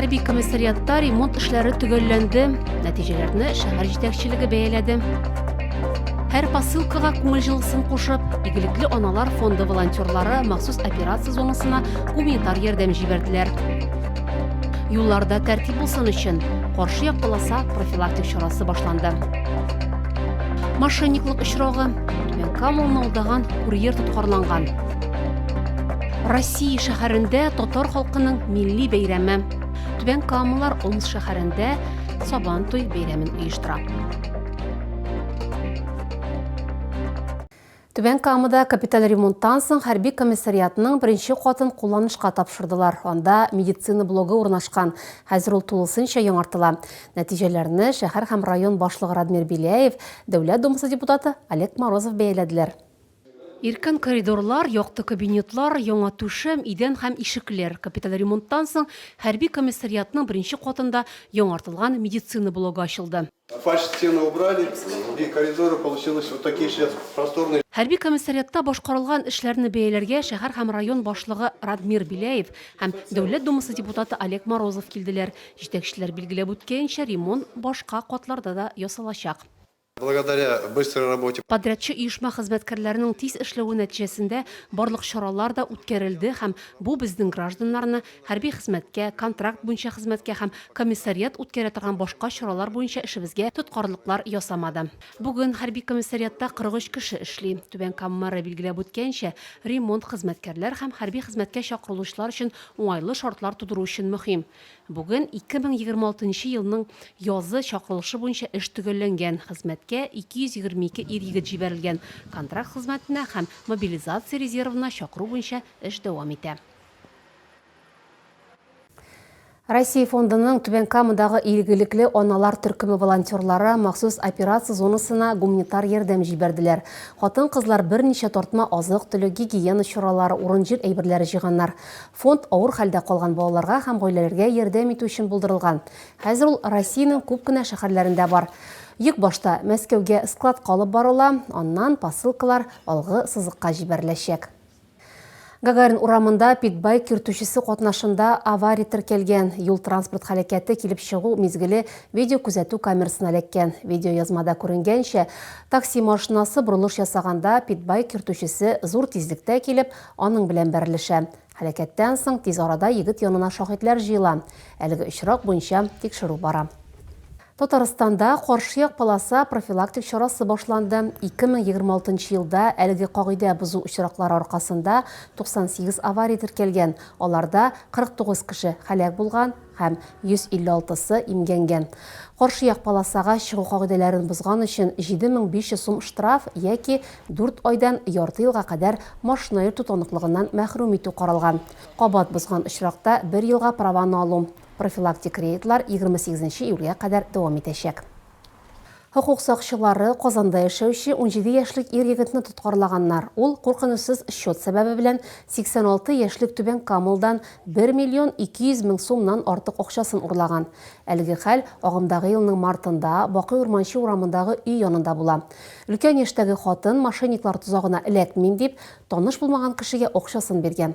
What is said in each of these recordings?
Хәрби комиссариатта ремонт эшләре төгәлләнде. Нәтиҗәләрне шәһәр җитәкчелеге бәяләде. Һәр посылкага күңел җылысын кушып, игелекле аналар фонды волонтерлары махсус операция зонасына гуманитар ярдәм җибәрделәр. Юлларда тәртип булсын өчен каршы як полоса профилактик чарасы башланды. Мошенниклык очрагы Камылны алдаган курьер тоткарланган. Россия шәһәрендә татар халкының милли бәйрәме. Түбән Камалар Омс шәһәрендә Сабан туй бәйрәмен оештыра. Түбән Камада капиталь ремонттан соң хәрби комиссариатның беренче катын кулланышка тапшырдылар. Анда медицина блогы урнашкан. Хәзер ул тулысынча яңартыла. Нәтиҗәләрне шәһәр һәм район башлыгы Радмир Беляев, Дәүләт Думасы депутаты Олег Морозов бәяләделәр. Иркен коридорлар, якты кабинетлар, яңа түшәм, идән һәм ишекләр, капиталь ремонттан соң хәрби комиссариатның беренче катында яңартылган медицина блогы ачылды. Хәрби комиссариатта башкарылган эшләрне бәяләргә шәһәр һәм район башлыгы Радмир Беляев һәм Дәүләт Думасы депутаты Олег Морозов килделәр, Җитәкчеләр билгеләп үткәенчә, ремонт башка катларда да ясалачак. Благодаря быстрой работе. Подрядчы оешма хезмәткәрләренең тиз эшләве нәтиҗәсендә барлык чаралар да үткәрелде һәм бу безнең гражданнарны хәрби хезмәткә, контракт буенча хезмәткә һәм комиссариат үткәрә торган башка чаралар буенча эшебезгә тоткарлыклар ясамады. Бүген хәрби комиссариатта 43 кеше эшли. Түбән Кама мэры билгеләп үткәенчә, ремонт хезмәткәрләр һәм хәрби хезмәткә чакырылучылар өчен уңайлы шартлар тудыру өчен мөһим. Бүген 2026 нчы елның язы чакырылышы буенча эш төгәлләнгән, хезмәткә 222 ир-егет җибәрелгән, контракт хезмәтенә һәм мобилизация резервына чакыру буенча эш дәвам итә. Россия фондының Түбән Камадагы илгилекле аналар төркеме волонтерлары махсус операция зонасына гуманитар ярдәм җибәрделәр. Хатын-кызлар берничә тартма азык-төлек, гигиена чаралары, урын-җир әйберләре җыйганнар. Фонд авыр хәлдә калган балаларга һәм гаиләләргә ярдәм итү өчен булдырылган. Хәзер ул Россиянең күп кенә шәһәрләрендә бар. Йөк башта Мәскәүгә складка алып барыла, аннан посылкалар алгы сызыкка җибәреләчәк. Гагарин урамында питбайк йөртүчесе катнашында авария теркәлгән. Юл-транспорт һәлакәте килеп чыгу мизгеле видеокүзәтү камерасына эләккән. Видеоязмада күренгәнчә, такси машинасы борылыш ясаганда, питбайк йөртүчесе зур тизлектә килеп, Аның белән бәрелешә. Һәлакәттән соң тиз арада егет янына шаһитләр җыела. Әлеге очрак буенча тикшерү бара. Татарстанда каршы як полоса профилактик чарасы башланды. 2026 нчы елда әлеге кагыйдә бозу очраклары аркасында 98 авария теркәлгән, аларда 49 кеше һәлак булган, һәм 156 сы имгәнгән. Каршы як полосага чыгу кагыйдәләрен бозган өчен 7500 сум штраф яки 4 айдан ярты елга кадәр машина йөртү таныклыгыннан мәхрүм итү каралган. Кабат бозган очракта бер елга праваны алу. Профилактик рейдлар 28 нче июльгә кадәр дәвам итәчәк. Хокук сакчылары Казанда яшәүче унҗиде яшьлек ир-егетне тоткарлаганнар. Ул куркынычсыз счет сәбәбе белән 86 яшьлек Түбән Камалдан бер миллион ике йөз мең сумнан артык акчасын урлаган. Әлеге хәл агымдагы елның мартында Бакый Урманче урамындагы өй янында була. Өлкән яшьтәге хатын мошенниклар тозагына эләкмим дип, таныш булмаган кешегә акчасын биргән.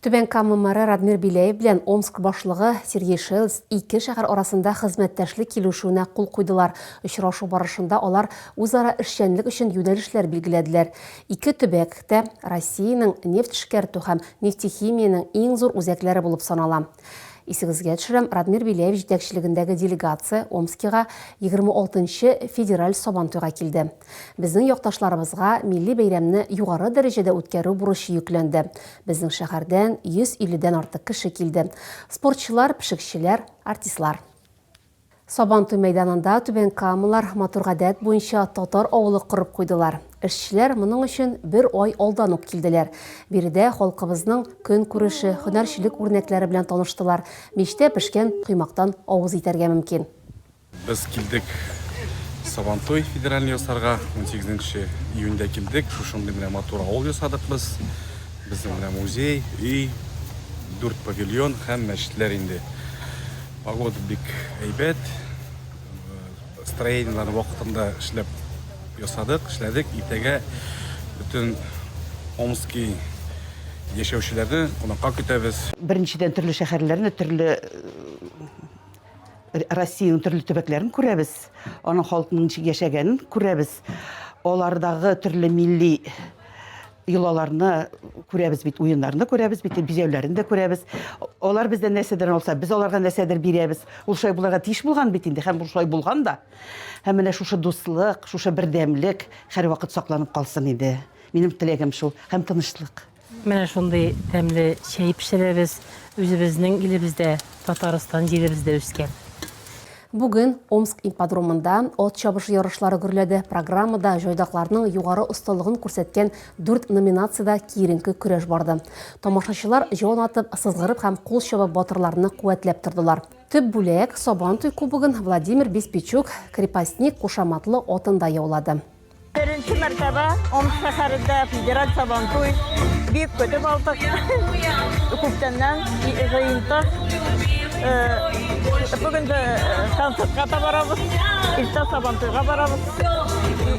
Түбән Кама мэры Радмир Биләев белән Омск башлыгы Сергей Шелс ике шәһәр арасында хезмәттәшлек килешүенә кул куйдылар. Очрашу барышында алар үзара эшчәнлек өчен юнәлешләр билгеләделәр. Ике төбәк тә Россиянең нефть эшкәртү һәм нефтехимиянең иң зур үзәкләре булып санала. Исегезгә төшерәм, Радмир Беляев җитәкчелегендәге делегация Омскига 26 нчы федераль Сабантуйга килде. Безнең якташларыбызга милли бәйрәмне югары дәрәҗәдә үткәрү бурычы йөкләнде. Безнең шәһәрдән 150 дән артык кеше килде. Спортчылар, пешекчеләр, артистлар. Сабантуй мәйданында Түбән Камалар матур гадәт буенча татар авылы корып куйдылар. Эшчеләр моның өчен бер ай алдан ук килделәр. Биредә халкыбызның көнкүреше, һөнәрчелек үрнәкләре белән таныштылар, мичтә пешкән коймактан авыз итәргә мөмкин. Без килдек Сабантуй федеральный ясарга, унсигез нче июньдә килдек, шушындый менә матур авыл ясадык без. Безнең менә музей, өй, дүрт павильон һәм мәчетләр инде. Погода бик әйбәт. Строениеләрне вакытында эшләп ясадык, эшләдек. Иртәгә бөтен Омский яшәүчеләрне кунакка көтәбез. Беренчедән төрле шәһәрләрне, төрле Россиянең төрле төбәкләрен күрәбез. Аның халкының ничек яшәгәнен күрәбез. Алардагы төрле милли Йолаларны күрәбез бит, уеннарны күрәбез бит, бизәүләрен дә күрәбез. Алар бездән нәрсәдер алса, без аларга нәрсәдер бирәбез. Ул шулай булырга тиеш булган бит инде һәм ул шулай булган да. Һәм менә шушы дуслык, шушы бердәмлек һәрвакыт сакланып калсын иде. Минем теләгем шул. Һәм тынычлык. Менә шундый тәмле чәй пешерәбез. Үзебезнең илебездә, Татарстан җиребездә үскән. Бүген Омск ипподромында ат чабышы ярышлары гөрләде. Программада җайдакларның югары осталыгын күрсәткән дүрт номинациядә киеренке көрәш барды. Тамашачылар җан атып, сызгырып һәм кул чабып батырларны куәтләп тордылар. Төп бүләк, Сабантуй кубогын Владимир Беспичук, Крепостник кушаматлы атында яулады. Беренче мәртәбә Омск шәһәрендә федераль Сабантуй бик көтеп алдык. Күптәннән җыентык. Бүген дә концертка да барабыз. Иртә Сабантуйга барабыз.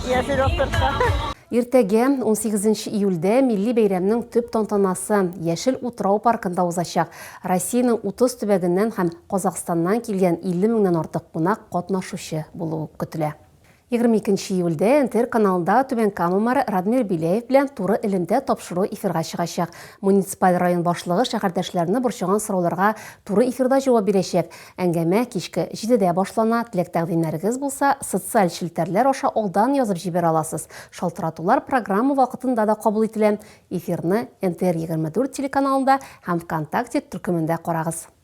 Яшел Острогка. Иртәгә, 18 июльдә, милли бәйрәмнең төп тантанасы Яшел утрау паркында узачак. Россиянең 30 төбәгеннән һәм Казахстаннан килгән 50 меңнән артык кунак катнашучы булуы көтелә. Егерме икенче июльдә НТР каналында Түбән Кама мэры Радмир Беляев белән туры элемтә тапшыру эфирга чыгачак. Муниципаль район башлыгы шәһәрдәшләрне борчыган сорауларга туры эфирда җавап бирәчәк. Әңгәмә кичке җидедә башлана. Теләк-тәкъдимнәрегез булса, социаль челтәрләр аша алдан язып җибәрә аласыз. Шалтыратулар программа вакытында да кабул ителә. Эфирны НТР егерме дүрт телеканалында һәм ВКонтакте төркемендә карагыз.